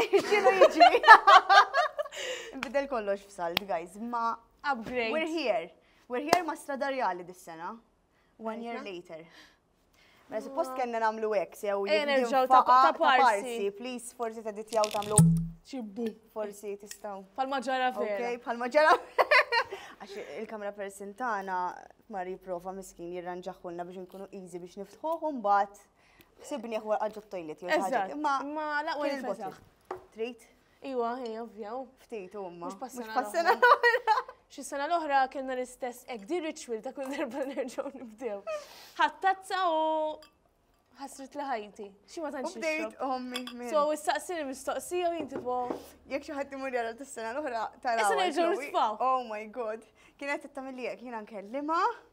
Xinu jiġri? Bidel kollox f'salt, guys, ma. Upgrade. We're here. We're here ma stradarjali dis-sena. One year later. Ma mela, suppost kena namlu ek, sew eh, jibdew ta' parsi. Please, forsi ta' ditjaw tamlu. Xibbu. Forsi tistaw. Pal-maġara vera. Ok, pal-maġara Għax il-kamera persintana ma riprofa miskin jirranġaħulna biex nkunu easy biex niftħuħu mbagħad. Ħsibni ħwar għadġu t-toilet jew ħaġa. Imma ma laqwa il-bottle. Trit? Iwa, hi, ovvja. Ftit, umma. Mux passana. Xi sena l-oħra kellna l-istess ek di ritual ta' kull darba nerġgħu nibdew. Ħattazza u ħasrit li ħajti. Xi ma tantx. Bdejt ommi. So issaqsini mistoqsija u jinti po. Jekk xi ħadd imur jara tas-sena l-oħra tara. Issa nerġgħu nisfaw. Oh my god. Kienet tagħmel jekk jiena nkellimha.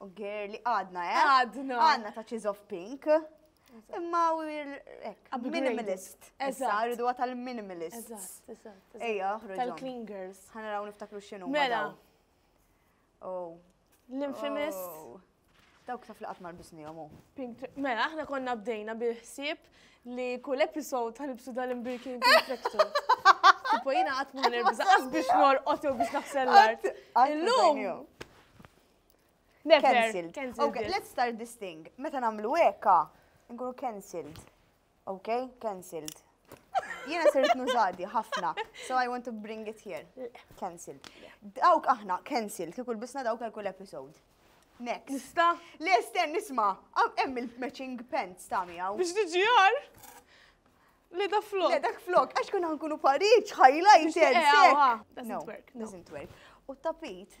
U girli, għadna, eh? Għadna. Għadna ta' Cheese of Pink. Imma u minimalist. Issa, rridu għata l-minimalist. Ejja, ħroġu. Tal-clean girls. ħana raw niftakru xinu. Mela. Oh. L-infamous. Oh. Dawk taf li qatt mar bisni jomu. Mela, aħna konna bdejna bil-ħsieb li kull episod tal-ibsu dal-imbirkin perfektu. Tipo jina qatt ma nerbża, għaz biex nor otu biex naħsel l-art. Illum. Cancelled. Okay, let's start this thing. Meta namlu eka, nkunu cancelled. Okay, cancelled. Jena sirt nużadi ħafna, so I want to bring it here. Cancelled. Dawk aħna, cancelled, kikul bisna dawk għal kull episode. Next. Nista? Le, sten, nisma. Hemm il-matching pants ta' miegħu. Biex tiġi għar? Le da flok. Le dak flok, għax kun għankunu pariċ, highlighted. Doesn't work. Doesn't work. U tapit,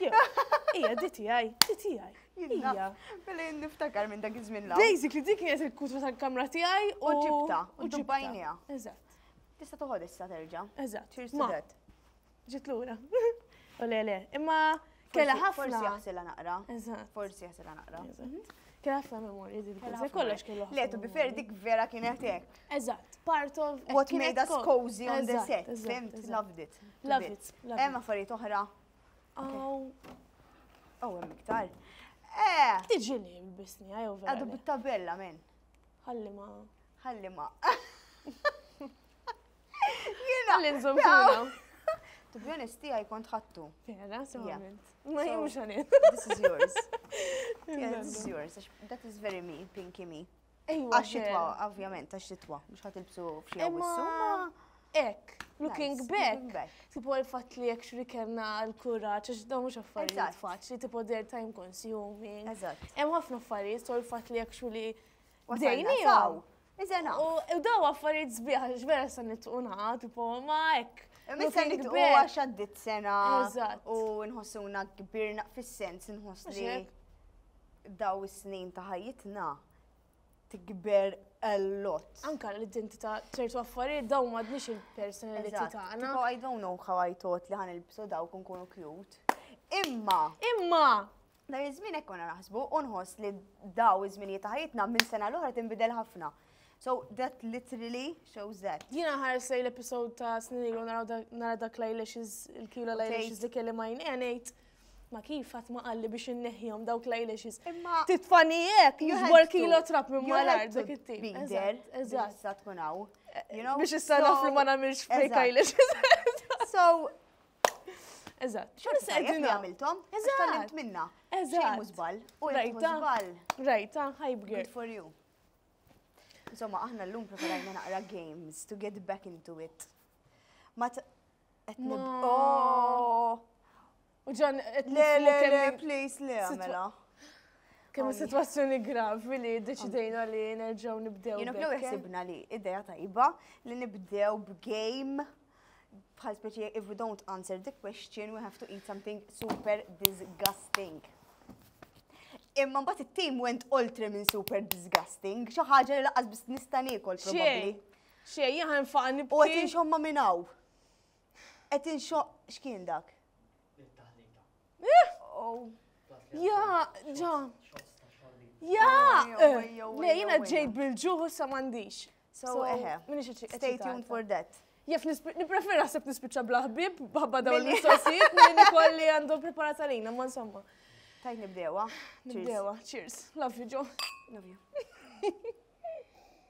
Ija, di tijaj, di tijaj. Ija. Billi niftakar minn dak iż-żmien la. Basically, dik kienet il-kutba tal-kamra tijaj u ġibta. U ġibbajnija. Eżatt. Tista toħod issa terġa. Eżatt. Cheers to that. Ġit lura. U le le, imma kella ħafna. Forsi jaħsela naqra. Eżatt. Forsi jaħsela naqra. Mhm. Kella ħafna memorji din. Kollox kellu. Le, tu bifer dik vera kienet hekk. Eżatt. Part of what made us cozy on the set. Loved it. Loved it. Hemm affarijiet oħra Aw. Aw hemm iktar. Eh! Tiġi li bisni għaj over. Għadu bit-tabella men. Ħalli ma. Ħalli ma. Jena. Ħalli nżom To be honest, tijaj kont ħattu. Vera, solament. Ma jimx għanet. This is yours. Yeah, this is yours. That is very me, pinky me. Għax-xitwa, ovvjament, għax-xitwa, mhux ħadd ilbsu f'xi Ek, looking back, tipo l-fat li jek xrikenna l-kuraċ, għax dawn mux affarijiet faċli, tipo der time consuming. Eżatt. Hemm ħafna affarijiet, so l-fat li jek xuli dejnijaw. Iżena. U daw affarijiet zbieħ, ġvera sa nitquna, tipo ma ek. Missa nitqu għax għaddit sena. Eżatt. U nħossuna kbirna fis-sens, nħossni. dawn is-snin ta' ħajjitna tikber a lot. Anka l-identità ċertu affarijiet dawn m'għadniex il-personalità tagħna. Tipo I don't know how I thought li ħan il-bsu daw kun kunu cute. Imma! Imma! Dar iż-żmien hekk konna naħsbu u nħoss li daw iż-żminijiet ta' ħajjitna minn sena l-oħra tinbidel ħafna. So that literally shows that. Jina ħares lej l-episod ta' snin ilu nara dak lajlex il-kilo lajlex dik li ma jnenejt. Ma kif għat ma qalli biex inneħjom dawk l-eyelashes. Imma. Titfani jek, jizbor kilo trap minn ma l-art dik it-tip. Bider, eżatt. Sa tkun għaw. Biex issa naf li ma namilx fake eyelashes. So. Eżatt. Xorta se għedin għamiltom. Eżatt. Tallimt minna. Eżatt. Mużbal. U mużbal. Rajta, hype girl. Good for you. Insomma, aħna l-lum preferajna naqra games to get back into it. Qed nib. Oh! U ġan qed Le, le, le, nismu kemm please, le, Sitwa- għamela. kemm is-sitwazzjoni gravi li deċidejna li nerġgħu nibdew. Jenu bdew bekk. ħsibna li ideja tajba li nibdew b'game bħal speċi if we don't answer the question we have to eat something super disgusting. Imma mbagħad it-team went oltre minn super disgusting, xi ħaġa li laqas biss nista' niekol probabbli. Xejn. Xej, jien ħa nfaqa' nibki. U qed inxommha minn hawn. Qed inxo x'kien dak? Ja, ġa. Ja! Le, jiena ġejt bil-ġuħ u sa m'għandix. So, eħe. Stay tuned for that. Jaf niprefera sepp nispiċċa bla ħbib, bħabba dawn l-mistoqsijiet, minn kolli għandhom preparata lina, ma insomma. Tajt nibdewa. Nibdewa, cheers. Love you, Joe. Love you.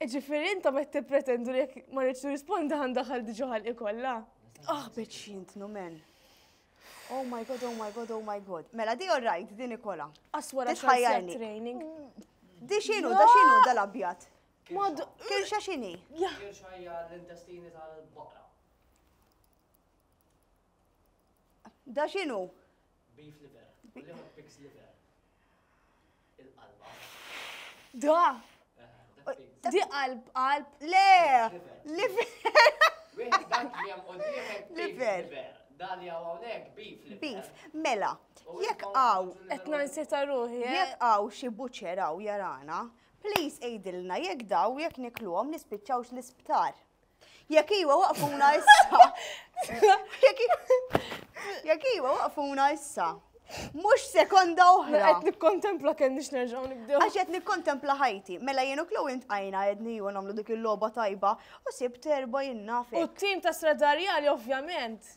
Iġifiri intom qed tippretendu li jekk ma rridx nirrispondi ħan daħal diġà ħalqi kollha. Ah, bitx jintnu men. Oh my god, oh my god, oh my god. Mela di all right, di Nikola. Aswara xajjarni. training. Di xinu, da xinu dal-abjad. Mod. Kirxa xini. Kirxa hija l-intestini tal-baqra. Da xinu? Beef liver. U liema pigs liver. Il-qalba. Da! Di qalb, qalb. Le! Liver! Wieħed dak li hemm quddiemek liver. Dan li hawn hawnhekk beef liver. Beef. Mela, jekk hawn qed nansita ruħi. Eh? Jekk hawn xi buċċer hawn jarana, please għidilna jekk daw jekk nikluhom nispiċċawx l-isptar. Jekk iwa waqfuna issa. Jekk iwa waqfuna issa. Mux sekonda oħra. Għet nikkontempla kemm nix nerġaw nibdew. Għax għet nikkontempla ħajti. Mela jenu klu int għajna għedni u namlu dik il-loba tajba u sib terba jinnafek. U t-tim ta' stradarjali ovvjament.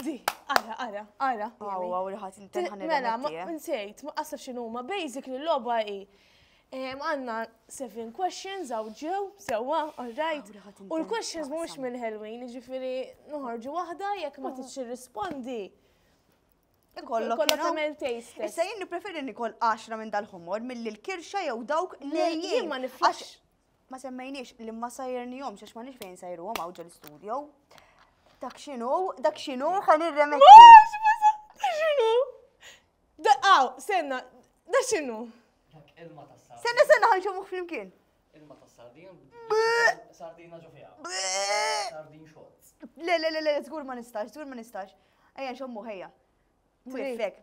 Di, ara, ara, ara. Għaw, għaw, rħat, intelħan Mela, ma eh? nsejt, ma qasaf xinu ma basic li loba i. Għanna seven questions għaw ġew, sewa, all right. U l-questions mux minn Halloween, ġifiri nħorġu wahda jek ma tiċi rispondi. Kollok tamel taste. Issa jien nipreferi nikol 10 minn dal-ħomor mill-kirxa jew dawk li jien ma niflax. Ma semmejniex li ma sajernihomx għax m'għandix fejn sajruhom hawn ġol-studio. Dak x'inhu, dak x'inhu ħa nirremetti. X'inhu? Daqaw, senna, da x'inhu? Senna senna ħan xogħmuh flimkien. Ilma ta' sardin. Sardina ġo fiha. Sardin xogħol. Le, le, le, le, żgur ma nistax, żgur ma nistax. Ejja nxommu ħejja. Mwifek.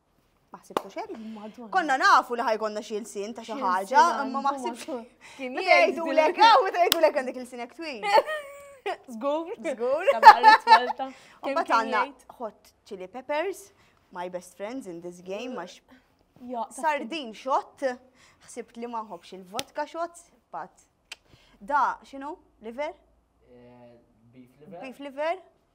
Ma ħsibtu xejn? Konna nafu li ħajkonna xi lsien ta' xi ħaġa, imma ma ħsibx. Kien jgħidu lek, ah, meta jgħidu lek għandek il-sin hekk twil. Żgur, żgur. Imma tagħna hot chili peppers, my best friends in this game, għax sardin xott, ħsibt li ma nħobbx il-vodka xott, pat. Da, xinu, liver? Eh, beef liver. Beef liver.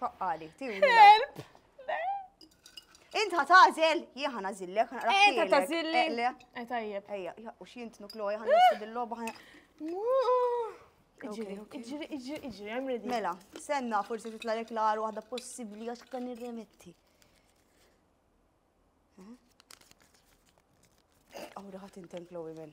Faqqali, tiegħu. Help! Int ħatażel, jien ħana zillek, ħana raħ. Int ħatażilli. Eh, tajjeb. Ejja, u xint nukloja ħana nissu dil-loba ħana. Iġri, iġri, iġri, iġri, I'm ready. Mela, senna forsi titla lek l-għar waħda possibli għax kan nirremetti. Għawra ħat inten Chloe minn.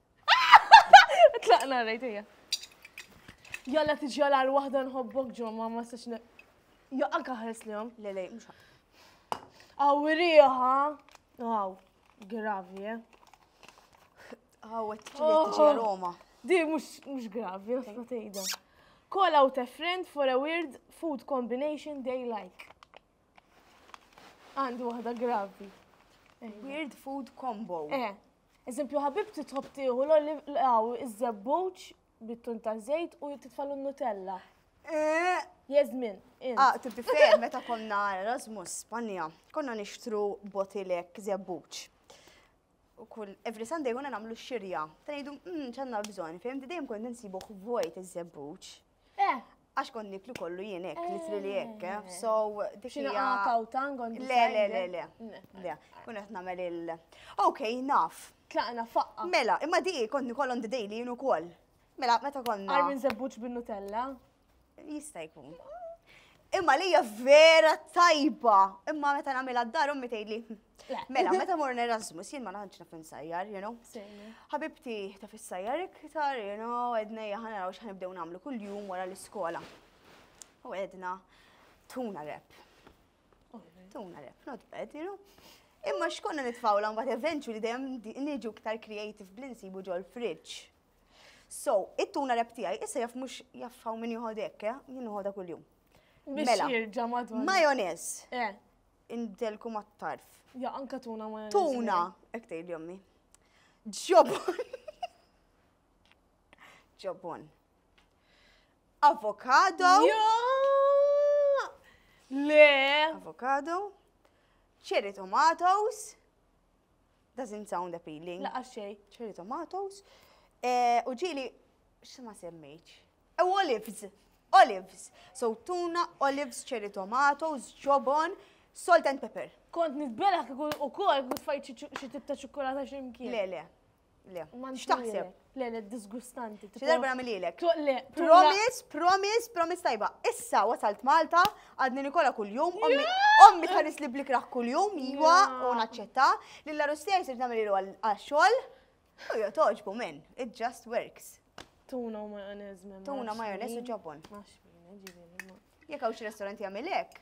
Tlaqna rajt hija. Jalla tiġjala għal waħda nħobbok ġo ma ma sax Jo anka ħares li jom. Le le, mhux ħadd. Awriha. Aw, gravi, eh. Aw, qed tiġi Oh. tiġi aroma. Di mhux mhux gravi, għasna tgħidha. Call out a friend for a weird food combination they like. Għandi waħda gravi. Weird food combo. Eh, eżempju ħabibti tħobb tieħu l-għaw iż-żebbuċ bit-tun ta' żejt u titfalu n-nutella. Eh. Jazmin. Ah, tibti fejn meta konna Erasmus Spanja, konna nixtru botilek żebbuċ. U kull every Sunday konna nagħmlu xirja. Ta' ngħidu, hmm, ċanna bżonn, fejn dejjem kont insibuh vojt iż-żebbuċ. Eh! Għax kont niklu kollu jien hekk, literally hekk, eh. eh. So, dik hija. Xi kawtan kont Le, le, le, le. Le, kun qed nagħmel il. Ok, naf. Tlaqna faqqa. Mela, imma di kont nikollhom the daily jien ukoll. Mela, meta konna. Għarmin zebbuċ bin-Nutella? Jista' jkun. Imma li hija vera tajba, imma meta nagħmilha d-dar ommi tgħidli. Mela, meta mor Erasmus, jien ma naħanx naf insajjar, you know. Ħabibti ta' fissajjar iktar, you know, edna jaħna raw xħanibdew namlu kull-jum wara l-iskola. U edna, tuna rep. Tuna rep, not bad, you know. Imma xkonna nitfawla mbagħad eventually dejjem niġu iktar creative bl-insibu ġol fridge. So, it-tuna rep tiegħi issa jaf mhux jaf hawn min joħod hekk, eh? jien noħodha kuljum. Mela, majonez. Eh. Indelku mat-tarf. Ja, anka tuna majonez. Tuna, hekk tgħid jommi. Ġobon. Ġobon. Avokado. Le. Avokado. Cherry tomatoes. Doesn't sound appealing. Laqas xejn. Cherry tomatoes. Eh, u ġili, x'ma semmejtx. U oh, olives. Olives. So tuna, olives, cherry tomatoes, ġobon, salt and pepper. Kont nitbela kikun u kol, kikun fajt xie tibta ċukkulata ximkien. Le, le. Le. X'taħseb? Le, le, disgustanti. Xi darba nagħmililek. Toqlek. Promise, promise, promise tajba. Issa wasalt Malta, għadni Nikola kuljum, ommi tħares li blikrah kuljum, jiwa u naċċetta. Lilla Rustija jisir nagħmel għax-xogħol. U jo toġbu minn, it just works. Tuna u majonez. Tuna majonez u ġobon. Jek għaw xi restoranti għamilek.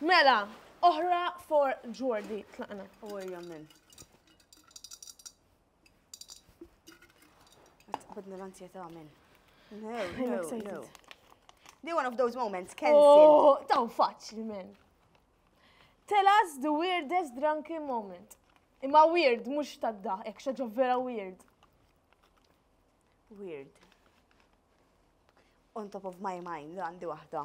Mela, oħra for Jordi. Tlaqna. U hija min? Għadna l-ansjetà minn. No, no, no. They one of those moments, cancel. Oh, taw faċli, men. Tell us the weirdest drunken moment. Imma weird, mux tadda, ek xaġa vera weird. Weird. On top of my mind, għandi wahda.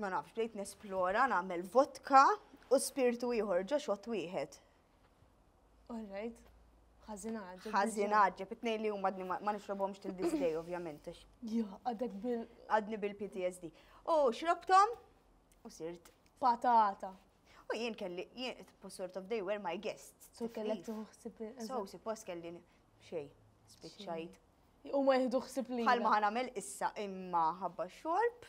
ma nafx, bdejt nesplora, nagħmel vodka u spirtu ieħor ġo xott wieħed. All right. Ħażinaġġeb. Ħażinaġġeb, it-tnejn li huma għadni ma nixrobhomx til this day ovvjament. Jo, għadek bil. Għadni bil-PTSD. U xrobtom u sirt. Patata. U jien kelli, jien, sort of they were my guests. So kellek tuħsib. So, si post kelli xej, spiċċajt. U ma jihdu xsib li. Bħal ma ħanamel issa imma ħabba xorb.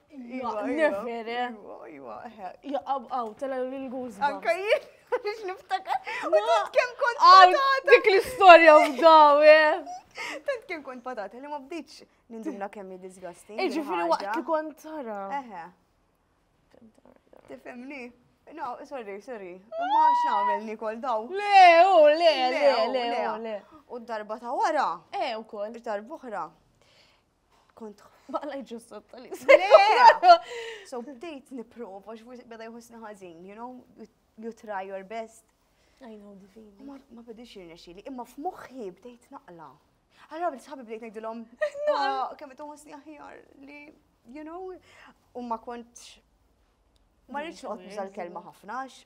Iva, nifir, eh. Iva, iva, eh. Jaqab għaw, tela l-guz. Anka jien, biex niftakar. U tant kem kont patata. Dik l-istoria u daw, eh. Tant kem kont patata, li ma bdiċ nindumna kemmi disgusting. Iġifiri waqt li kont tara. Eħe. Tifemni. No, sorry, sorry. Ma x'nagħmel Nikol daw. Le, u le, le, le, le. U darba ta' wara. Eh, ukoll. Darba oħra. kont baqla ġussot tal So bdejt niprofa, xfuq beda jħossni ħażin, you know, you try your best. I know the feeling. Ma bidix jirnexili, imma f'moħħi bdejt naqla. Għarra bil sħabi bdejt ngħidilhom, ah, kemm tħossni aħjar li, you know, u ma kontx ma rridx noqgħod nuża l-kelma ħafna għax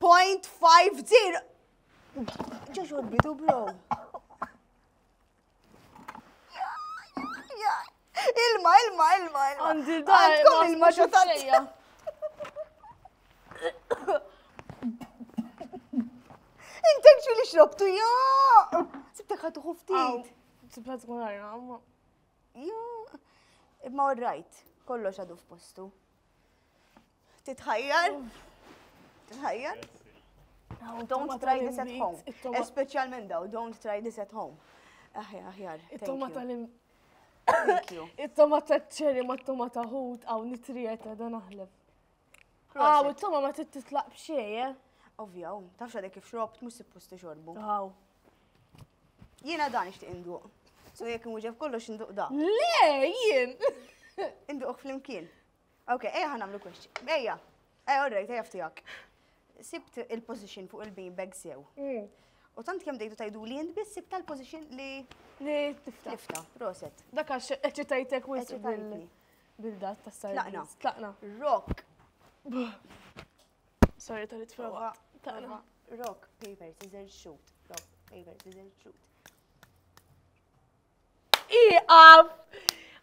0.50. Ġoġo bidu bro. Ilma, ilma, ilma, ilma. Għandi dar. Għandkom ilma xatajja. Intek xu li xrobtu, jo! Sibtek ħatu xuftit. Sibta tkun għarra, ma. Jo. Imma rajt, kollox għadu f'postu. Titħajjar? Titħajjar? Don't try this at home. Especialment daw, don't try this at home. Aħjar, aħjar. It-tomata li. It-tomata ċeri ma t-tomata ħut għaw nitrijet għada naħleb. Għaw, it-toma ma t-titlaq bxieje. Eh? Ovvja, um, tafx għadek kif xrobt, mus suppost xorbu. Għaw. Jena dan ixtiq induq. So jek muġef kollox induq da. Le, jien. Induq fl-imkien. Ok, ejja ħan għamlu kwestji. Ejja, ejja, all right, ejja ftijak. Sibt il-position fuq il-bean bag sew. Mm. U tant kem dejdu tajdu li jint biss sibt tal-position li. Li tifta. Tifta, proset. Dak għax eċitajtek u eċitajtni. Bil-dat ta' sar. Tlaqna. Tlaqna. Rock. Sorry tal prova. Tlaqna. Rock, paper, scissors, shoot. Rock, paper, scissors, shoot. Iqaf!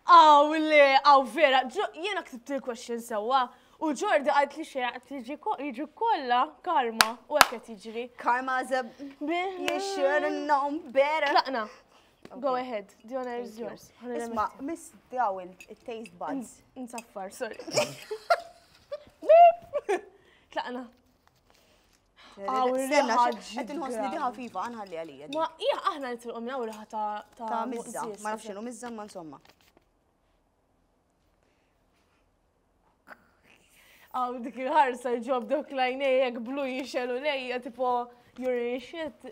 Aw le, aw vera, jiena ksibt il-question sewwa. U Ġordi għalt li xejn għalt jiġi kollha karma u hekk qed jiġri. Karma is a you should have known better. Tlaqna. Go ahead, the honor is yours. Isma, miss daw il-taste buds. Nsaffar, sorry. Tlaqna. Stenna, qed inħossni di ħafifa, għanħalli għalija. Ma hija aħna nitilqu minn hawn ta' ta' mizza, ma nafx x'inhu mizza ma insomma. Għaw dik il-ħarsa ġob dok lajnejek blu jixelu lejja tipo you're in shit.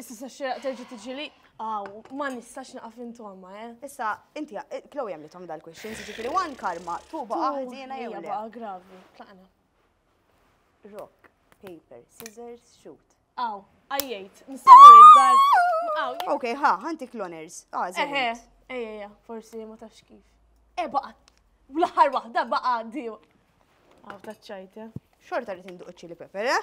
Issa sa xiraq terġa tiġi li, għaw, ma nistax naqaf intomma, eh? Issa, inti, eh, klow jem li tom dal-question, ġifiri one karma, tu baqa ħdina jew le. Baqa gravi, tlaqna. Rock, paper, scissors, shoot. Għaw, għajjajt, nistawur id-dar. Għaw. Ok, ha, ħanti kloners. Għazin. Ah, Eħe, ejja, forsi ma tafx kif. E baqa, l-ħar wahda baqa għaddi. Għaw, taċċajt, eh? Xorta li tinduq ċili pepper, eh?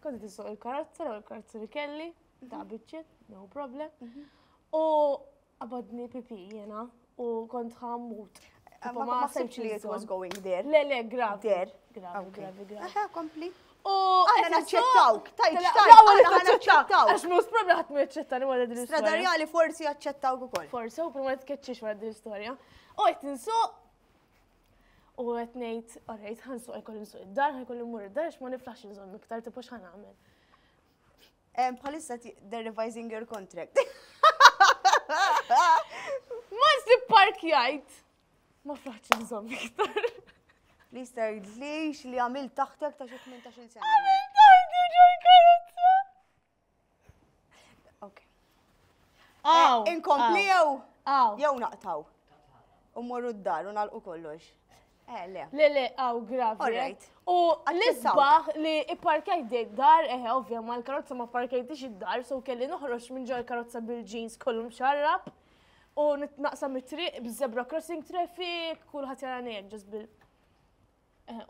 Kont nisuq il-karozza, l karozza li kelli, ta' mhm. bitċet, no problem. Mhm. U għabadni pipi jena u kont ħammut. Ma sibx li it was going there. Le, le, grav. There. Gravi, gravi, gravi. Kompli. U għana naċċettawk, tajt xtajt, għana naċċettawk. Għax mus problem ħat mi jaċċettani għala din l-istoria. Stradarjali forsi jaċċettawk u koll. Forsi, u prima tkeċċiex għala din l-istoria. U għet nsuq U qed ngħid, orrejt, ħansuq ikolli nsuq id-dar, ħajkolli mmur id-dar għax ma niflaħx inżomm iktar tipo x'ħan nagħmel. Palissa they're revising your contract. Ma nsib park jgħid. Ma flaħx nżomm iktar. Li jistajt li li għamil taħtek ta' xi 18 sena. Għamil taħtek ġo karozza. Aw! Eh, inkompli jew? Aw. Jew naqtaw. U morru d-dar u nalqu kollox. Eh, le. Le, le, aw, gravi. All right. U l-isbaħ li parkajt dej dar, eħe, eh, ovvja, ma l-karozza ma parkajtix id-dar, so kelli noħroġ minn ġol karozza bil-ġins kollu mxarrab u nitnaqsam it-triq bizzebra crossing traffic, kullħat jara nejek ġas bil.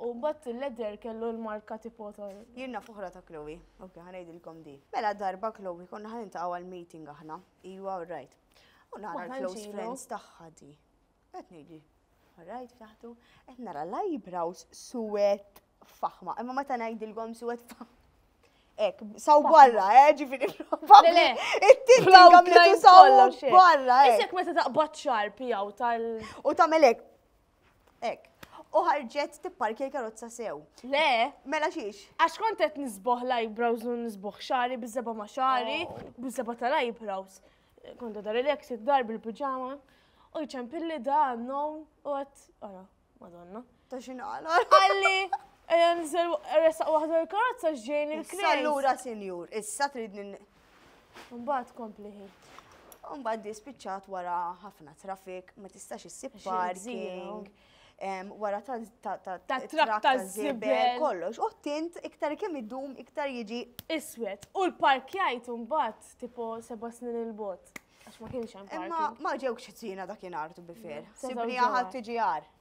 U mbagħad il-leather kellu l-marka tipo tal. Jien naf oħra ta' Chloe. Ok, ħa ngħidilkom di. Mela darba Chloe konna ħa niltaqgħu għal meeting aħna. Iwa all right. U nara l-close friends tagħha di. Qed ngħidi. All right, ftaħtu. Qed nara l-eyebrows suwed faħma. Imma meta ngħidilkom suwed faħma. Ek, saw barra, eh, ġifiri probabli. Le, it-tinti għamletu saw barra. Isek meta taqbad xar pijaw tal. U tamelek. Ek. U ħarġet tipparkja l-karozza sew. Le. Mela xiex? Għax kont qed nisboħ l-eyebrows u nisboħ xari bizzeba ma xari, oh. bizzeba tal-eyebrows. Kont għadha relax id-dar bil-pijama. U jċempilli da non u għat, għara, madonna. Ta' xinqala. Għalli, għan zel resaq wahda l-karozza ġejn il-krejs. Allura, senjur, issa tridni Mbagħad kompli ħid. Mbagħad di spiċċat wara ħafna traffic, ma tistax issib parking. Wara ta' trak ta' zibel kollox. U tint iktar kemm idum iktar jiġi iswed. U l-parkjajt mbagħad tipo seba' snin il-bot. Għax ma kienx hemm. Imma ma ġewx ċina dakinhar tu bifer. Sibni ħadd tiġi għar.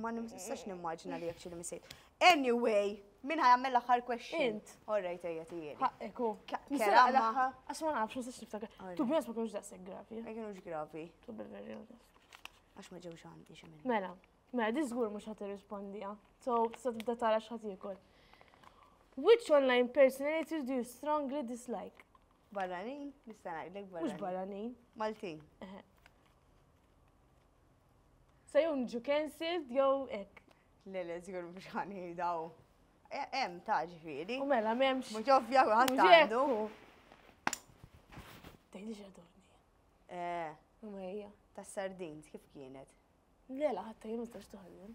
Ma nistax nimmaġina li jekk xi misejt. Anyway, min ħajamel l-aħħar question? Int. Orrejt ejja tijeli. Ħaqqiku. Kera l-aħħar. Għax ma nafx nistax niftakar. Tu bjos ma kienux daqseg gravi. Ma kienux gravi. Tu bil-verġi. Għax ma ġewx għandi xi minn. Mela, mela di żgur mhux ħadd irrispondija. So, tista' tibda tara x'ħadd jiekol. Which online personalities do you strongly dislike? Barranin, nista' ngħidlek barranin. Mhux barranin. Maltin. Sa jew niġu cancelled jew hekk. Le le żgur mhux ħa ngħidaw. Hemm ta' ġifieri. U mela m'hemmx. Mhux ovvja kulħadd għandu. Tgħidix għadorni. Eh. U mejja. Tas-sardins kif kienet? Le la ħadd ma jistax toħodhom.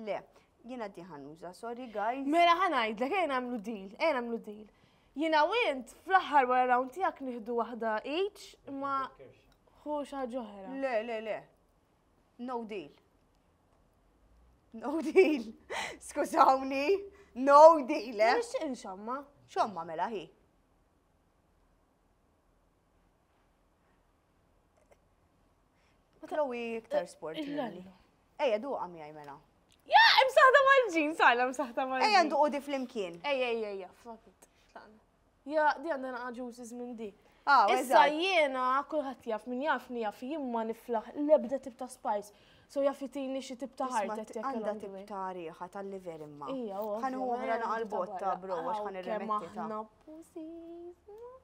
Le, jiena di ħanuża, sorry guys. Mela ħanajdlek, ejn għamlu deal, ejn għamlu deal. Jiena u int fl-aħħar wara round tiegħek nieħdu waħda each ma hu xi ġoħra. Le, le, le. No deal. No deal. Skużawni. No deal. Eh? Nixtieq inxamma. Xomma mela hi. Chloe iktar sport. Ejja, du għam jaj mela. Ja, imsaħta mal-ġin, sajla imsaħta mal-ġin. Ejja, nduqu di fl-imkien. Ejja, ejja, ejja, flakit. Ja, di għandha naqaġu minn di. Ah, Issa jiena kulħadd jaf min jafni jaf jien ma niflaħ l-ebda tip ta' spice. So jaffitini xi tip ta' ħarta jekk għandha tip ta' riħa tal-liver imma. Ija, Ħan uħra naqal botta bro għax ħan irremetti ta'.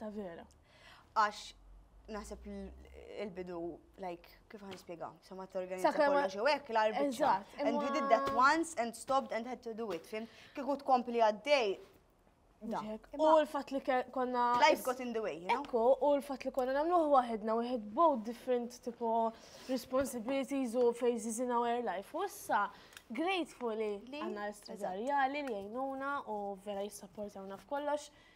Ta' vera. Għax naħseb il-bidu, like, kif għan spiega, sama t-organizza kollu xew ek, l-arbitru. And we did that once and stopped and had to do it, fim? Kiku tkompli għaddej. U l-fat li konna. Life got in the way, you know? Ekku, u l-fat li konna namluħ wahedna, we had both different tipo responsibilities u phases in our life. U issa, gratefully, għanna l-istrezarjali li jajnuna u vera jissapportawna f'kollox. kollox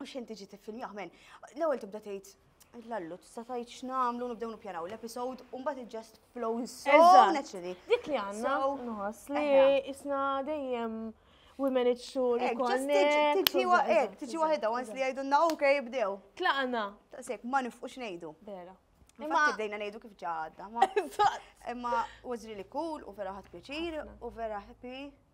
U xejn tiġi tiffilmjah men. L-ewwel tibda tgħid Lallu, tista' tgħid x'nagħmlu nibdew nippjanaw l-episode u mbagħad it just flows so Eżatt. naturally. Dik li għandna So, nħoss li eħe. isna dejjem we manage to Ek, just reconnect. tiġi- u tiġi wa- eżatt, ek, eżatt, tiġi eżatt, waħedha once li eżatt. jgħidulna ok ibdew. Tlaqna. Daqshekk ma nifqux ngħidu. Vera. Infatti bdejna ngħidu kif ġa għadda. ma- Eżatt. Imma was really cool u vera ħadt pjaċir u vera happy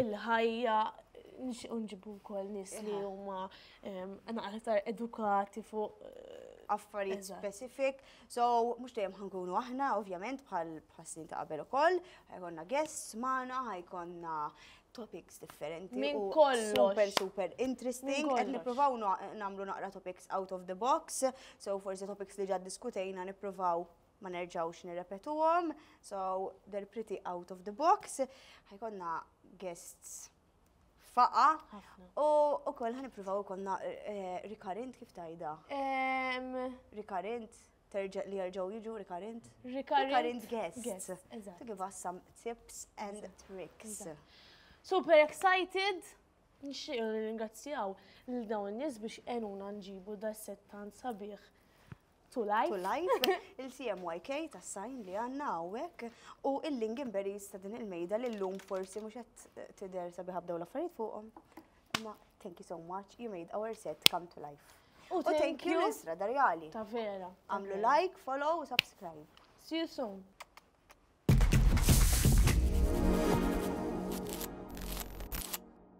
il-ħajja, nixtiequ nġibu wkoll nies li huma aktar edukati fuq affarijiet specific. So, mhux dejjem ħankunu aħna, ovvjament, bħal snin ta' qabel ukoll, ħajkonna guests magħna, ħajkonna topics differenti. Minn kollox. Super, super interesting. Qed nippruvaw nagħmlu naqra topics out of the box, so forsi topics li ġad diskutejna nippruvaw ma nerġawx nirrepetuhom, so they're pretty out of the box. Ħajkonna guests faqa u ukoll ħanippruvaw ikollna eh, rikarint kif tajda. Em, Rikarint terġa' li jerġgħu jiġu rikarint. Rikarint Rikarint guests. guests, eżatt. To give us some tips and tricks. Super excited! Nixtieq ringrazzjaw lil dawn in-nies biex għenuna nġibu da settan sabiħ To Life. To Life, il-CMYK ta' sajn li għanna għawek u il-Lingenberries ta' din il-mejda li l-lum forsi mux għet eh, tider sabi ħabdaw l-affarijiet fuqom. Ma, thank you so much, you made our set come to life. U thank you l-Isra Darjali. Ta' vera. Għamlu like, follow u subscribe. See you soon.